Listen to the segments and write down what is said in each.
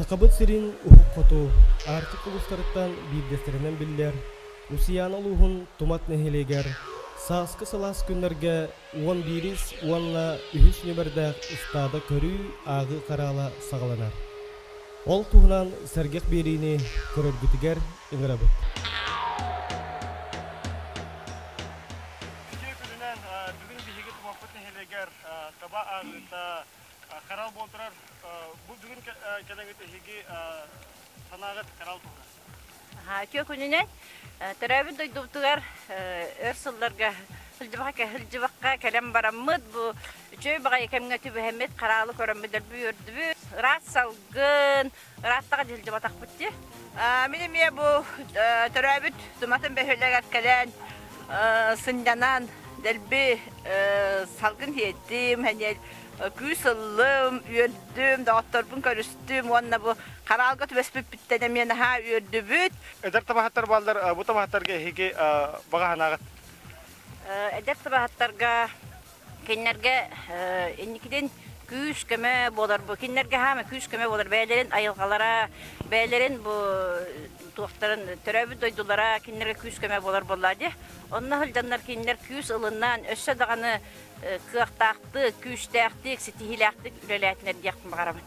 Сахабыт сирин Уһук Хоту, Арктика улуустарыттан биирдэстэринэн биллэр Усуйаана улууһун Тумат нэһилиэгэр сааскы сылаас күннэргэ уон биирис уонна үһүс нүөмэрдээх ыстаада көрүү-ааҕыы хараала саҕаланар. Ол туһунан сэргэх биэриини көрөргүтүгэр ыҥырабыт. Үтүө күнүнэн бүгүн биһиги Тумаппыт нэһилиэгэр таба ааҕыыта Коралл буол турар бу бүгүн кэлэҥит эһиги санааҕыт коралл туһунан. Аха, күнүнэн төрөөбүт дойдубутугар өр сылларга сылдьыбакка сылдьыбакка кэлэн бараммыт бу үчүгэй баҕайы кэмҥэ түбэһэммит хараалы көрөммүт өрбү өрдүбүт ыраас салгын ырааттаҕа дьылдьыбатахпыт дии. Мин эмиэ бу төрөөбүт Суматын бөһүөлэгэр кэлэн сынньанан дэлби салгын иһиттим, күүс ыллым, үөрдүм, доҕотторбун көрүстүм уонна бу хараалга түбэспиппиттэн эмиэ наһаа үөрдүбүт. Эдэр табаһыттар бааллар бу табаһыттарга эһиги баҕа санааҕыт? Эдэр табаһыттарга Кинилэргэ инникитин күүс-көмө буолар бу кинилэргэ хаама күүс-көмө буолар бэйэлэрин айылҕалара бэйэлэрин бу туохтарын төрөөбүт дойдулара кинилэргэ күүс-көмө буолар буоллаа дии онно сылдьаннар кинилэр күүс ылыннаан өссө даҕаны кыахтаахтык күүстээхтик ситиһиилээхтик үлэлээтинэр диэх баҕарабын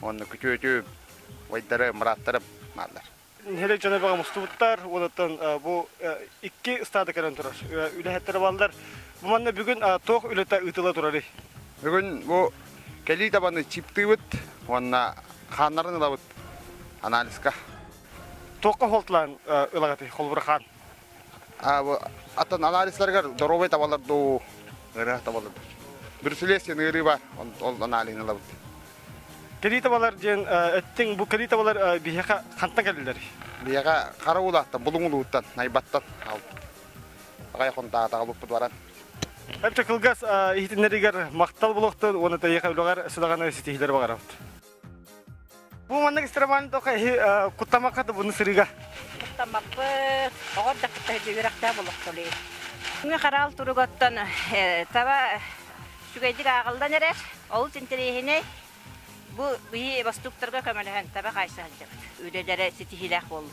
уонна күтүөтү, вайдары, мыраттары бааллар. Нэһилиэк дьоно бөҕө мустубуттар, уонуттан бу икки ыстаада кэлэн турар үлэһиттэрэ бааллар. Бу манна бүгүн туох үлэтэ ыытыла турарый? Бүгүн бу кэлии табаны чиптыыбыт уонна хааннарын ылабыт анализка. Туохха холтулаан ылаҕытый, холбура хаан? Аттан анализларыгар доруобай табалар дуу, ырыа табалар Брюселесин ыарыы бар, ол анализын ылабыт. Кэлии табалар диэн өттүң бу кэлии табалар биһиэхэ хантан кэллилэр? Биһиэхэ хара уулаахтан, булуҥулууттан, найбаттан аалбыт. Аҕай хонтаатаҕа буппут баран. Өттө кылгас иһитиннэригэр махтал булуохтун уонна тэйиэхэ үлэҕэр сыдаҕаны ситиһиилэри баҕарабыт. Бу маннык ыстарабан тока эһи куттамакка табыны сырыга. Куттамаппыт, оҕор да кытта үрэхтэ болохтолей. Күҥҥэ хараал туругаттан таба сүгэйдик ааҕылдан эрэр, олус интэриэһинэй. Бу биһи бастуктарга көмөлөһөн таба хайса сылдьабыт. Үлэлэрэ ситиһиилээх буоллун.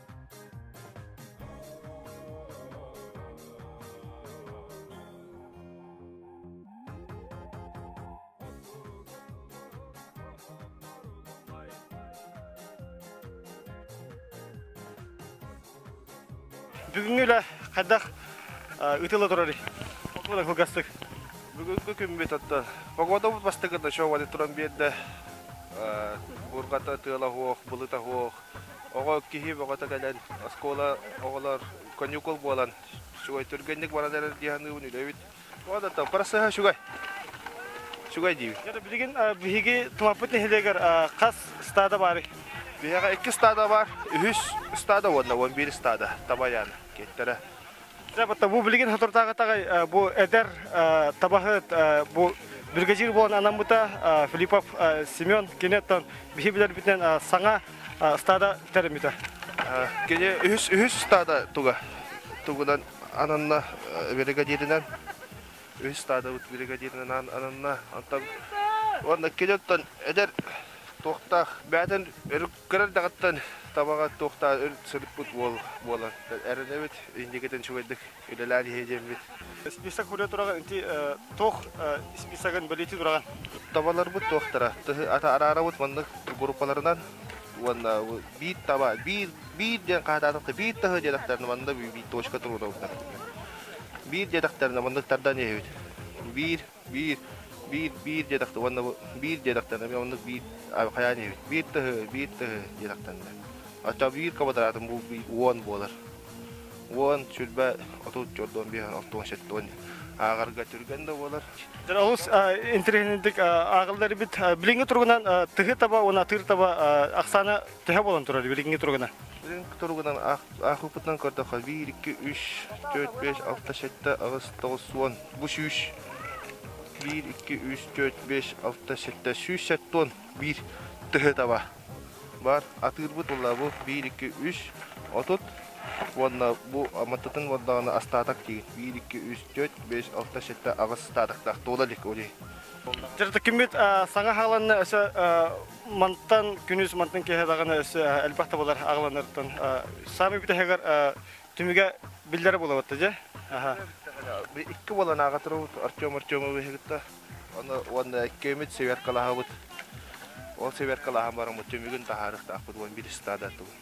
бүгүҥҥү үлэ хайдах ытыла турарый отуонан кылгастык бүгүнкү күммүт оттон погодабыт бастакыта чообады туран биэрдэ бургата тыала суох былыта суох оҕо киһи бөҕөтө кэлэн оскуола оҕолор коньюкул буолан үчүгэй түргэнник баран эрэр дии саныыбын үлэбит оҕолортон проссыһа үчүгэй үчүгэй диибин дьэ билигин биһиги тумаппыт нэһилиэгэр хас стада баарый биһиэхэ икки стада бар үһүс стада уонна уон биир стада табайаан киэттэрэ бу билигин соторутааҕытаҕы бу эдэр табаһыт бу бүргэдьиир буолан анаммыта Филиппов Семен кинеттан биһи билэрбитинэн саҥа стада тэриммитэ. Кини үһүс үһүс стада туга тугунан ананна бригадирынан үһүс стадабыт бригадирынан ананна онтон уонна киниттан эдэр туохтаах бээтин өрүк Кыра эрдэҕиттэн табаҕа туохтаах өр сырыппыт уол буолан эрэнэбит, инникитин үчүгэйдик үлэлээн иһиэ диэммит. Список хурйа тураҕын ити туох списогын бэлиэтии тураҕын? Табаларбыт туохтара? Тыһы араарабыт маннык группаларынан уонна биир таба, биир биир диэн хаһаатаатахха биир таһы диэтэхтэринэ манна биир точка туруорабыттар. Биир диэтэхтэринэ маннык тардан иһэбит. Биир Биир, биир, биир диэтэхтэ уонна бу биир диэтэхтэнэ, мен оннук биир хайаан диэбит, биир тыһы, биир тыһы диэтэхтэннэ. Оччо биир квадратым бу уон буолар. Уон, сүрбэ, отут, чордон, биһэн, оттон, шеттон, аагарга түргэн да буолар. Олус интеллигентик аагалларбит билиҥҥи туругунан тыһы таба уон атыыр таба ахсаана төһө буолан турар билиҥҥи туругунан? Билиҥҥи туругунан аахпытынан көрдөххө, биир, икки, үс, төрт, беш, алта, шетте, аҕыс, тоҕус, уон бу сүүс биир икки үс төрт бес алта сэттэ сүүс сэттуон биир төһө таба бар атыырбыт уллабы биир икки үс отут уонна бу аматтытын уондаҕына астаатак тиген биир икки үс төрт бес алта сэттэ аҕыс статактаах туола илик оли Жырты киммит саҥа хааланна өсө мантан күнүс мантан киһи даҕаны өсө элбэх табалар аҕаланыртан сами бүтэһигэр түмүгэ биллэрэ булабыт дьэ икки уоланааҕа туруубут артем артемовы кытта уонна иккиэмит сверкалаһабыт ол сверкалаһан бараммыт түмүгүн таһаарыахтаахпыт уон биир стадаттыбыт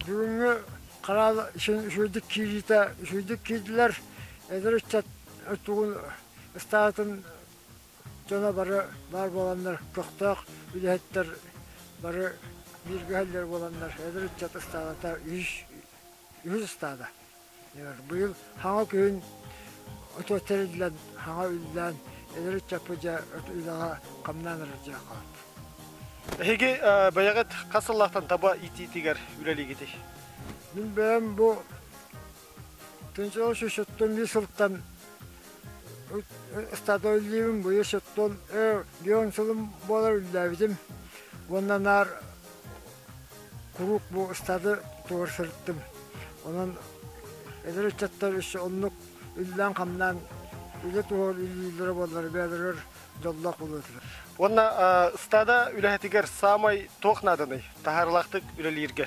бүгүҥҥү хараал сүйдүк киириитэ сүйдүк киирдилэр эдэр ыччат тугун ыстаатын дьоно бары баар буоланнар көхтөөх үлэһиттэр бары бииргэ иһэллэр буоланнар эдэр ыччат ыстаадата үһүс үһүс ыстаада быйыл хаҥа күһүн отуочча ириллэн хаҥа үллээн эдэр ыччаппыт дьэ үлэҕэ хамнаан эрэр дьиэ хаалт эһиги бэйэҕит хас сыллаахтан таба иитиитигэр үлэлиигитий мин бэйэм бу Күнчэҕи сүүсүттэн биир сылтан ыстата үллүүбүн быйыл сыттым өр дион сылым буолар үллээбитим уонна наар куруук бу ыстаты тутугар сырыттым онон эдэр ыччаттар өссө оннук үллээн-хамнаан үлэ туһугар үллүүллэрэ буоллар бэйэлэригэр дьоллоох буолуохтар уонна ыстаада үлэһитигэр саамай туох нааданый таһаарылаахтык үлэлииргэ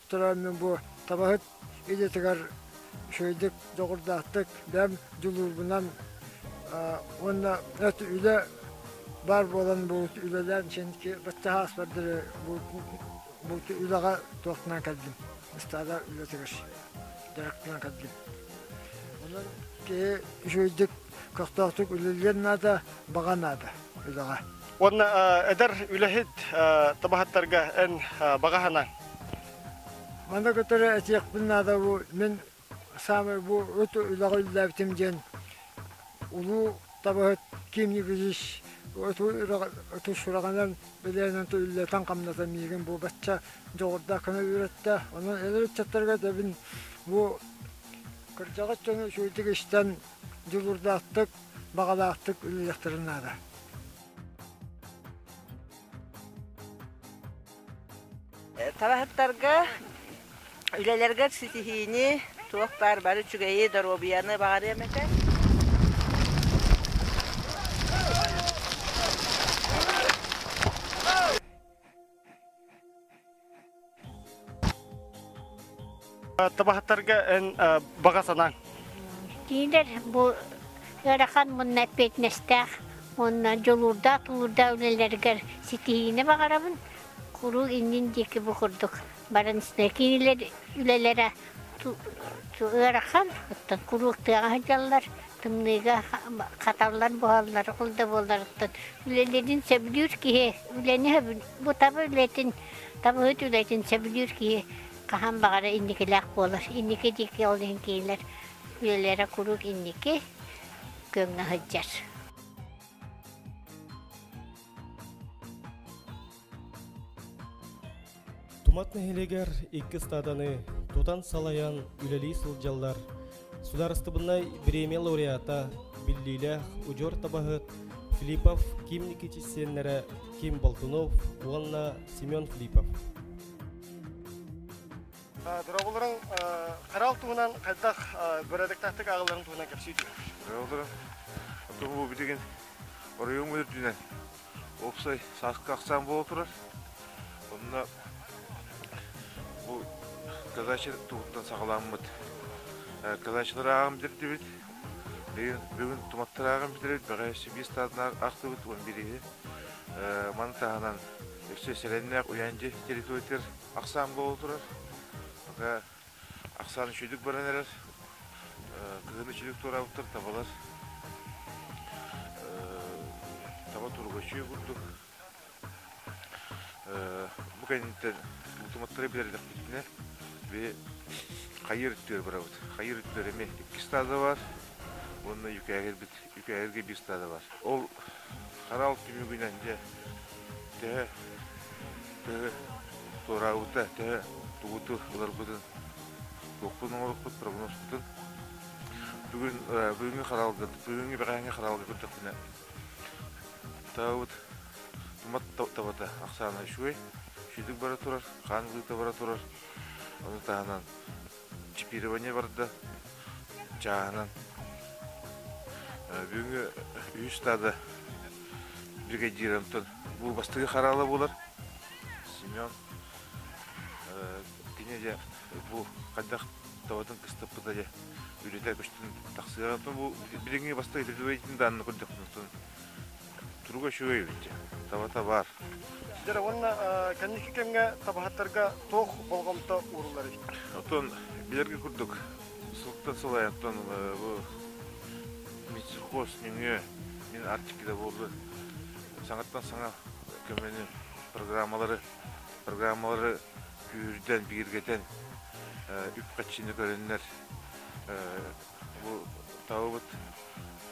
туран бу табаһыт идэтигэр үчүгэйдик дьоҕурдаахтык бэм дьулуурбунан уонна эт үлэ баар буолан буут үлэлээн синки баччаһаас бардары буут үлэҕэ туохтанан кэлдим ыстаада үлэтигэр директынан кэлдим онон киһи үчүгэйдик көхтөөхтүк үлэлиэн наада баҕа наада үлэҕэ Уонна эдэр үлэһит табаһыттарга эн баҕаһынан? Маны көтөрө этиэхпин наада бу мин саамай бу ыт үлэҕэ үллээбитим диэн улуу табаһыт Ким Нигизис оту сураҕынан билиэнэн үллэтэн-хамнатан миигин бу бачча дьоҕурдаах гына үөрэттэ. Онон эдэр ыччаттарга тэбин бу кырдьаҕас дьону сүрдүк истэн дьулурдаахтык баҕалаахтык үлэлиэхтэрин наада. Табаһыттарга үлэлэргэр ситиһиини, туох баар бары үчүгэйи, доруобуйаны баҕарыам этэ. Табаһаттарга эн баҕа санаң? Диилэр бу ыарахан мунна эппиэтинэстээх уонна дьулуурдаах тулуурдаах үлэлэригэр ситиһиини баҕарабын. Куруук иннин диэки бу курдук баранснай киинилэр үлэлэрэ ыарахан, куруук тыаҕа сылдьаллар. тымныыга хаталлар буолаллар ол да буолларыттан үлэлэрин сөбүлүүр киһи үлэни бу таба үлэтин табыһыт үлэтин сөбүлүүр киһи хаһан баҕара инникилээх буолар инники диэки ол иһин киинлэр үлэлэрэ куруук инники күөҥҥэ сылдьар Тумат нэһилиэгэр икки стаданы тутан салайан үлэлии сылдьаллар Судаарыстыбыннай бириэмийэ лауреата, биллиилээх удьуор табаһыт Филиппов Ким Никитич сиэннэрэ Ким Болтунов уонна Семен Филиппов. Дорогуларың қарал туһунан қайдақ бөрәдектақтық ағыларын туһунан кепсейді. Дорогуларым, бұл бүтеген оройым өтірдінен уопсай сааскы ахсаан буола турар онно бу кылачы туһуттан саҕаламмыт кылачылары ааҕан бүтэрдибит бүгүн туматтары ааҕан бүтэрбит бэҕэ сибиис таатынан артыбыт уон бирииһи маны таһынан өссө сэрэннээх уйаандьы территориятыгар ахсаан буола турар Ахсаан үчүгдүк баран эрэр. Кыһын үчүгдүк туораабыттар табалар. Таба тургачыы курдук. Бу кэнниттэн утуматтары билэрдэхпитинэ хайыр үттүөр барабыт. Хайыр үттүөр эми икки стада бар уонна үкээһирбит үкээһиргэ биир стада бар. Ол анал түмүгүнэн дьэ төһө төһө туораабыта төһө тугуту ыларбытын туохпутун оҥорукпут прогнозпутун бүгүн бүгүҥҥү хараалга бүгүҥҥү бэҕэһээҥҥи хараалга көрдөхпүнэ табабыт тумат табата ахсаана үчүгэй сүтүк бара турар хаан быыта бара турар ону таһынан Чипирование барда. Чааһынан. Бүгүҥҥү үһүс стада бригадирантан бу бастыгы хараала буолар. Семен кини дьэ бу хайдах табатын кыстаппыта дьэ үлэтэ көстүн тахсыаҕын бу билиҥҥи бастыгы тридевейтин даанны көрдөхтүн Туруга үчүгэй эбит дьэ. Табата баар. Сіздер уонна кэнники кэмҥэ табаһыттарга туох болҕомто ууруллар эбит? Оттон билэргэ курдук, сылтан сыл айаттан бу медсухоз нөҥүө мин Арктикада буоллу саҥаттан саҥа көмөнү программалары программалары күүрдэн, бигиргэтэн үп-харчыны көрөннөр Бу табабыт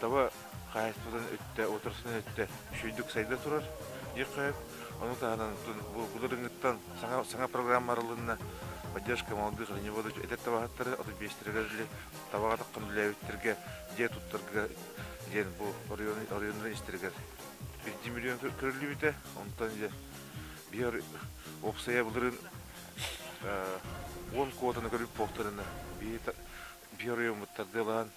таба хаһаайыстыбатын өттө, уотарсатын өттө үчүгэйдик сайда турар диир хаһыат. Ону таһынан бу былырыыҥҥыттан саҥа саҥа программа арылынна. Поддержка молодых оленеводов этэр табаһыттары отут биэстэригэр эрли табаҕа таххан үлэлээбиттэргэ дьиэ туттарга диэн бу оройуоннарын истэригэр биирдии миллион көрүллүбүтэ. Онтон иде биир уопсайа былырыын уон куотаны көрүп буолтарына биһи биир ойууммут тардыалаһан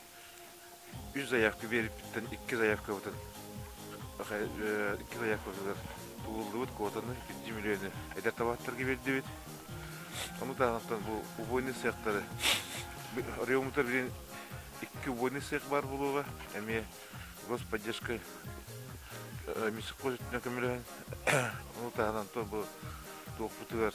үс заявка биэрбиттэн икки заявкабытын икки заявкабытыгар тулуллубут куотаны икки миллионы эдэр табааттарга биэрдибит ону таһынан бу убойный цехтары оройуоммутар билин икки убойный цех баар буолуоҕа эмиэ господдержка э, миссиххой көмөлөһөн ону таһынан бу туохпутугар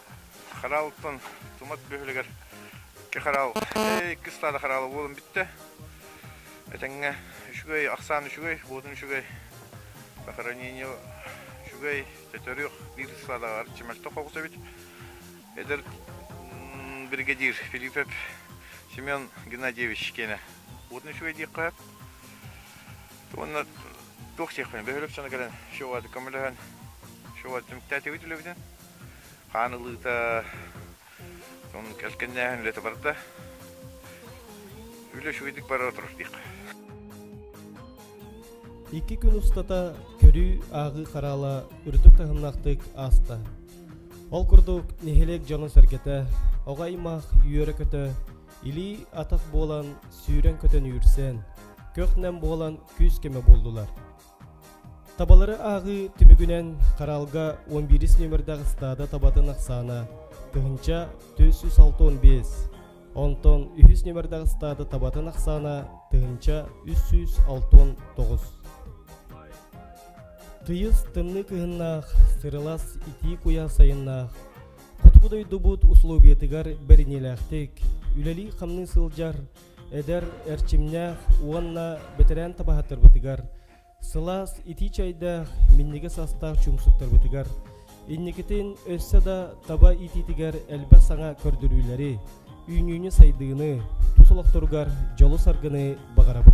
хараалтан тумат бөһүлэгэр икки хараал иккис таада хараала буолан бүттэ этэҥҥэ үчүгэй ахсаан үчүгэй буотун үчүгэй похоронение үчүгэй төтөрүөх биир стадааҕар чимэлток хоҕус эбит эдэр бригадир филиппов семен геннадьевич киэнэ буотун үчүгэй диэххэ уонна туох сиэхпин бөһүлөк сана кэлэн шоуады көмөлөһөн шоуады түмүктээтибит үлэбитин хаан ылыыта кэлгэннээһин үлэтэ барда үлэ үчүгэйдик бара турар диэх Икки күн устата көрүү ааҕыы хараала үрдүк таһымнаахтык ааста. Ол курдук нэһилиэк дьоно-сэргэтэ, оҕо аймах үөрэ-көтө, илии атах буолан сүүрэн көтөн үүрсэн, көх-нэм буолан күүс-көмө буллулар. Табалары ааҕыы түмүгүнэн хараалга 11 нүөмэрдээх ыстаада табатын ахсаана тыһыынча түс үс алта он биэс онтон үһүс нүөмэрдээх ыстаада табатын ахсаана тыһыынча үс сүүс алта он тоҕус тыйыс тымныы кыһыннаах сырылас итии куйа сайыннаах хотугу дойдубут усулуобуйатыгар бэриниилээхтик үлэлии-хамныы сылдьар эдэр эрчимнээх уонна бэтэрээн табаһыттарбытыгар, сылаас итии чэйдээх минньигэс астаах чуумсуктарбытыгар, инникитин өссө да таба иитиитигэр элбэх саҥа көрдөрүүлэри, үүнүүнү-сайдыыны, тус олохторугар дьолу-саргыны баҕарабыт.